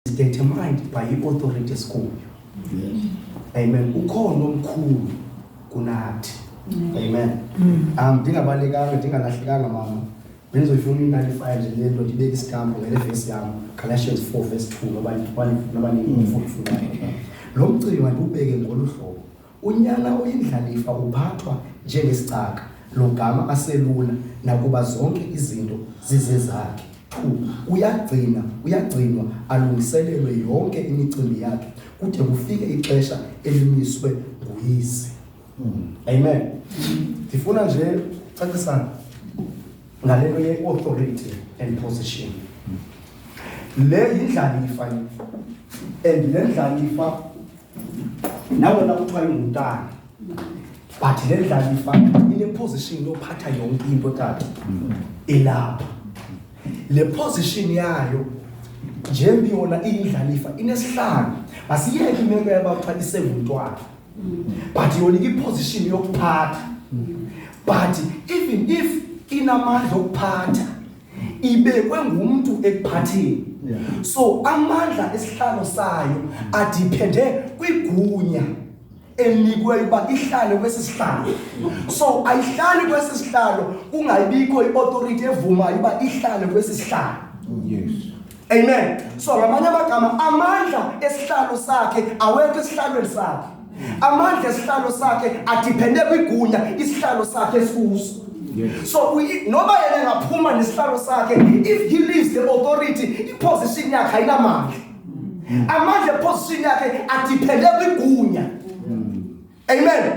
is determined by i-authority esikuyo amen ukhona omkhulu kunathi amen um ndingabalekanga ndingalahlekanga mama bendizoyifuna i-ninety-five nje le nto ndibeke isitampu ngele vesi yam galatians four verse two noba ndifuna lo mcimbi mandiwubeke ngolu hlobo Unyana oyindlalifa uphathwa njengesicaka logama aselula nakuba zonke izinto zizezakhe. Two, uyagcina uyagcinwa alungiselelwe yonke imicimbi yakhe kude kufike ixesha elimiswe nguyise. Amen. Ndifuna nje cacisa ngale nto ye-authority and position. Le yindlalifa and le ndlalifa nawe na kuthiwa ingumntana but le ndlalifa ineposition yophatha yonke into tata ilapha le position yayo njembi yona iyindlalifa inesihlanu asiyeke imeko yaba kuthiwa isengumntwana but yona iposition yokuphatha but even if inamandla okuphatha ibekwe ngumntu ekuphatheni yeah. so amandla esihlalo sayo adiphende kwigunya enikweyo uba ihlale kwesi sihlalo so ayihlali kwesi sihlalo kungayibikho i-authority evumayo uba ihlale kwesi sihlalo yes. Amen. So ngamanye amagama amandla esihlalo sakhe awekho esihlalweni sakhe. Amandla esihlalo sakhe adepende kwigunya isihlalo sakhe esikuso. Yes. So we noma yena engaphuma nesihlalo sakhe if he leaves the authority iposition yakhe ayinamandla. Amandla position yakhe adepende kwigunya. amen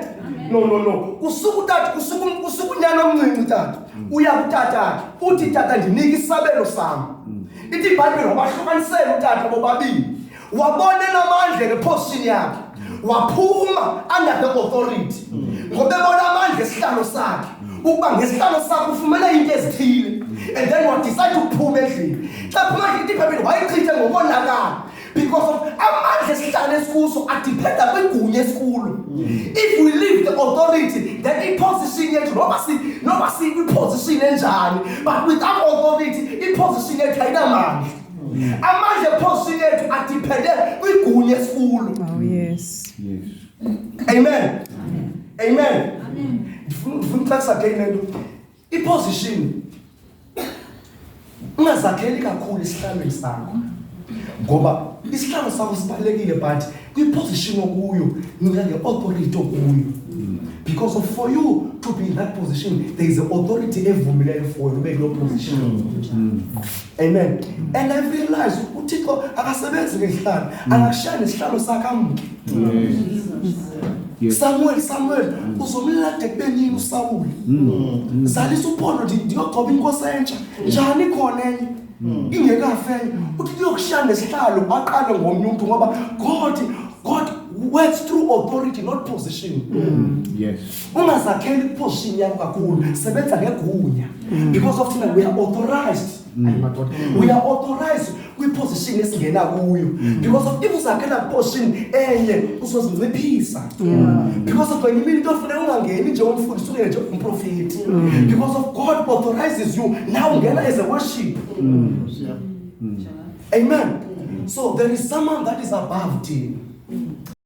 no no no kusuka utata kusuka um, kusuka unyana omncinci tata mm. uya kutata akhe uthi tata ndinike isabelo sam mm. ithi ibhayibhile wabahlukanisela utata bobabini wabonela amandla ngephosini yakhe mm. waphuma under the authority ngobebona amandla esihlalo sakhe ukuba ngesihlalo sakho ufumene into ezithile and then wadicide ukuphuma endlini xa phuma endlini ithi ibhayibhile wayichithe ngokonakala because of amandla esihlala esikuso adiphenda kwigunya esikulo mm. if we leave the authority then iposition yethu noma si noma sikwiposition enjani but without authority iposition yethu ayinamandla mm. amandla eposition yethu adiphende kwigunya esikulo oh, yes. yes. amen amen, amen. ndifuna ndifuna uxakisa ke into iposition ungazakheli kakhulu isihlalweni sakho ngoba isihlalo sakho sibalulekile but kwiposition okuyo nika nge-authority okuyo because of for you to be in that position there is authority evumileyo for you ube kuloo position amen and i realize uthixo akasebenzi ngezihlalo akakushaya nesihlalo sakhe amke samuel samuel mm. uzomlela debenini usawule mm. zalisa uphondo ndiyogoba inkosi entsha njani khona enye mm. ingekafe enye uthi kuyokushaya nesihlalo baqale ngomnye umntu ngoba god god works through authority not position yes ungazakheli iposition yakho kakhulu sebenza ngegunya because of thina we are authorized mm. madoda mm. we are authorized kwiposition esingena kuyo mm. because of if uzakhela position enye uzozinciphisa because of kwenye imini into ofuneka ungangeni nje umfundisi ungene nje umprofeti because of god authorizes you now ungena as a worship amen so there is someone that is above thee